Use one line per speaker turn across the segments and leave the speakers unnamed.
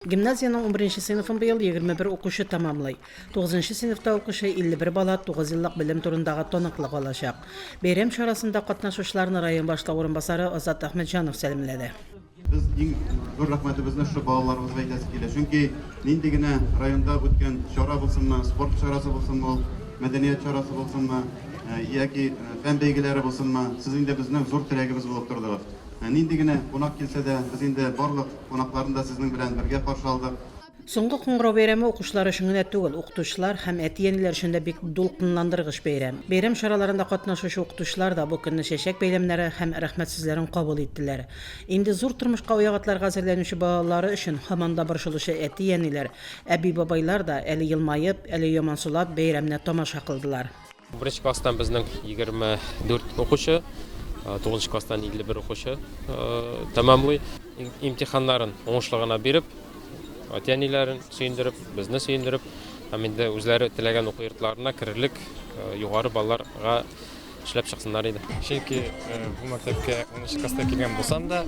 Гимназиянең унберенче сыйныфын быел егерме бер укучы тәмамлый. Тугызынчы сыйныфта укучы 51 бала тугыз еллык белем турындагы таныклык алачак. Бәйрәм чарасында катнашучыларны район башлыгы урынбасары Азат Әхмәтҗанов сәламләде. Без иң
зур рәхмәтебезне шушы балаларыбызга әйтәсе килә. Чөнки нинди генә районда үткән чара булсынмы, спорт чарасы булсынмы ул, мәдәният чарасы булсынмы, яки фән бәйгеләре булсынмы, сез инде безнең зур терәгебез булып тордыгыз. Нинди генә кунак килсә дә, без инде барлык. кунакларны да сезнең белән бергә каршы алдык. Соңгы кыңгырау
бәйрәме укучылар өчен генә түгел, укытучылар һәм әти-әниләр өчен дә бик дулкынландыргыч бәйрәм. Бәйрәм чараларында катнашучы укытучылар да бу көнне чәчәк бәйләмнәре һәм рәхмәт сүзләрен кабул иттеләр. Инде зур тормышка аяк атларга әзерләнүче балалары өчен һаман да борчылучы әти-әниләр, әби-бабайлар да, әле елмаеп, әле ямансулап, бәйрәмне тамаша кылдылар. Беренче класстан
безнең 24 укучы, тугызынчы класстан 51 укучы тәмамлый. Имтиханнарын уңышлы гына биреп, әти-әниләрен сөендереп, безне сөендереп, һәм инде үзләре теләгән уку йортларына керерлек югары балларга эшләп чыксыннар иде. Чөнки
бу мәктәпкә 10 класста килгән булсам да,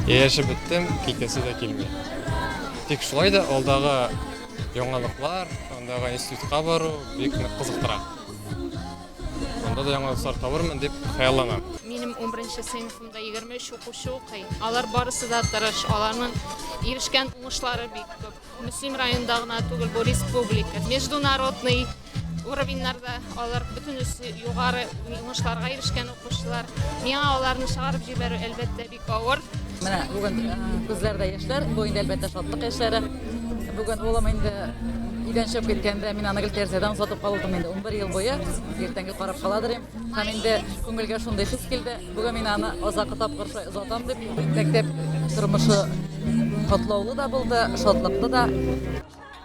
яшәп беттем, китәсе дә килми. Тик шулай да алдагы Яңалыклар, андагы институтка бару бик нык кызыктыра. Анда да яңалыклар табырмын дип хыялланам. Минем 11
сыйныфымда 23 укучы укый. Алар барысы да тырыш, аларның ирешкән уңышлары бик күп. Мөслим районында гына түгел, бу республика, международный уровеньнарда алар бөтенесе югары уңышларга ирешкән укучылар. Миңа аларны чыгарып җибәрү әлбәттә бик авыр. Менә бүген
э, күзләрдә яшьләр, бу инде әлбәттә шатлык яшьләре. Бүген улым инде өйдән чыгып киткәндә мин аны гел тәрәзәдән озатып калдым инде 11 ел буе. Иртәнге карап каладыр им. Һәм инде күңелгә шундый хис килде. Бүген мин аны озакы тапкыр шулай озатам дип мәктәп тормышы котлаулы да булды, шатлыклы да.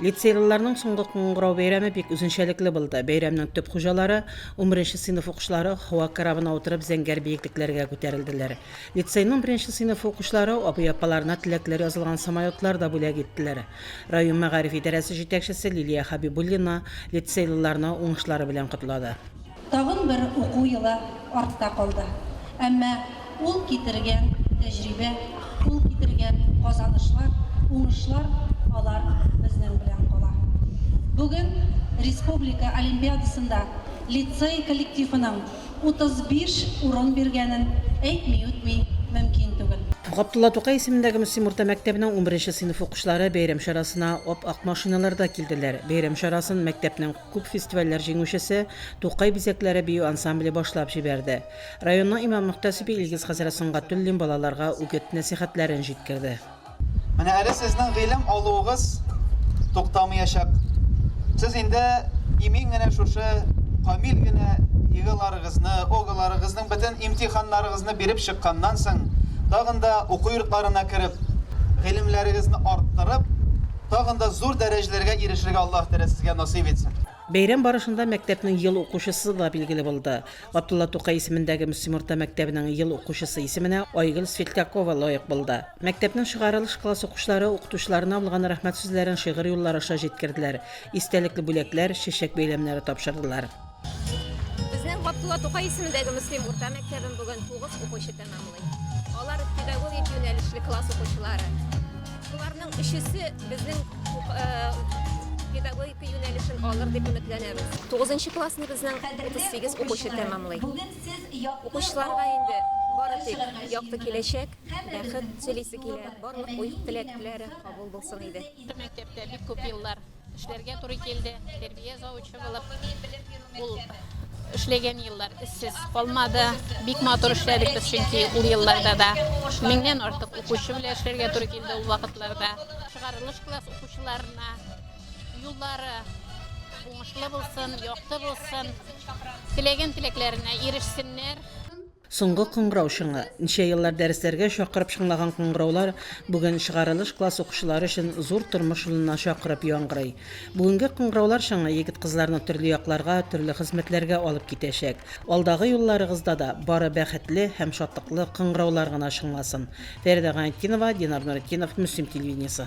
Лицейлыларның
соңгы кыңгырау бәйрәме бик үзенчәлекле булды. Бәйрәмнең төп хуҗалары, унберенче сыйныф укучылары һава корабына утырып зәңгәр биеклекләргә күтәрелделәр. Лицейның беренче сыйныфы укучылары абый-апаларына теләкләр язылган самолетлар да бүләк иттеләр. Район мәгариф идарәсе җитәкчесе Лилия Хәбибуллина лицейлыларны уңышлары белән котлады. Тагын бер
уку елы артта калды. Әмма ул китергән тәҗрибә, ул китергән казанышлар, уңышлар, алар безнең белән кала. Бүген республика олимпиадасында лицей коллективының 35 урын биргәнен әйтми-үтми мөмкин түгел. Габдулла Тукай исемендәге
Мөслим урта мәктәбенең унберенче сыйныф укучылары бәйрәм чарасына ап-ак машиналарда килделәр. Бәйрәм чарасын мәктәпнең. Күп фестивальләр җиңүчесе Тукай бизәкләре бию ансамбле башлап җибәрде. Районның имам-мөхтәсибе Илгиз хәзрәт Сөнгатуллин балаларга үгет-нәсыйхәтләрен җиткерде. Менә әле
сезнең гыйлем алуыгыз туктамыячак. Сез инде имин генә шушы камил генә ЕГЭларыгызны, ОГЭларыгызның бөтен имтиханнарыгызны биреп чыкканнан соң, тагын да уку йортларына кереп, гыйлемләрегезне арттырып, тагын да зур дәрәҗәләргә ирешергә Аллаһ Тәгалә сезгә насыйп итсен. Бәйрәм барышында
мәктәпнең ел укучысы да билгеле булды. Габдулла Тукай исемендәге Мөслим урта мәктәбенең ел укучысы исеменә Айгөл Светлякова лаек булды. Мәктәпнең чыгарылыш класс укучылары укытучыларына булган рәхмәт сүзләрен шигырь юллары аша җиткерделәр, истәлекле бүләкләр, чәчәк бәйләмнәре тапшырдылар.
Безнең Габдулла Тукай исемендәге Мөслим урта мәктәбен бүген 9 укучы тәмамлый. Алар педагогик юнәлешле класс укучылары. Шуларның өчесе безнең э, педагогика юнәлешен алыр дип өметләнәбез. 9 классны безнең 38 укучы тәмамлый. Укучыларга инде бары тик якты киләчәк, бәхет телисе килә, барлык уй-теләкләре кабул булсын иде. Мәктәптә бик күп
еллар Эшләргә туры килде. Тәрбия завучы булып ул эшләгән еллар эшсез калмады. Бик матур эшләдек без, чөнки ул елларда да меңнән артык укучы белән эшләргә туры килде ул вакытларда. Чыгарылыш класс укучыларына юллары уңышлы булсын, якты булсын, теләгән теләкләренә ирешсеннәр. Соңгы
кыңгырау чыңы. Ничә еллар дәресләргә чакырып чыңлаган кыңгыраулар бүген чыгарылыш класс укучылары өчен зур тормыш юлына чакырып яңгырый. Бүгенге кыңгыраулар чыңы егет-кызларны төрле якларга, төрле хезмәтләргә алып китәчәк. Алдагы юлларыгызда да бары бәхетле һәм шатлыклы кыңгыраулар гына чыңласын. Фәридә Гайнетдинова, Динар Нуретдинов, Мөслим телевидениесе.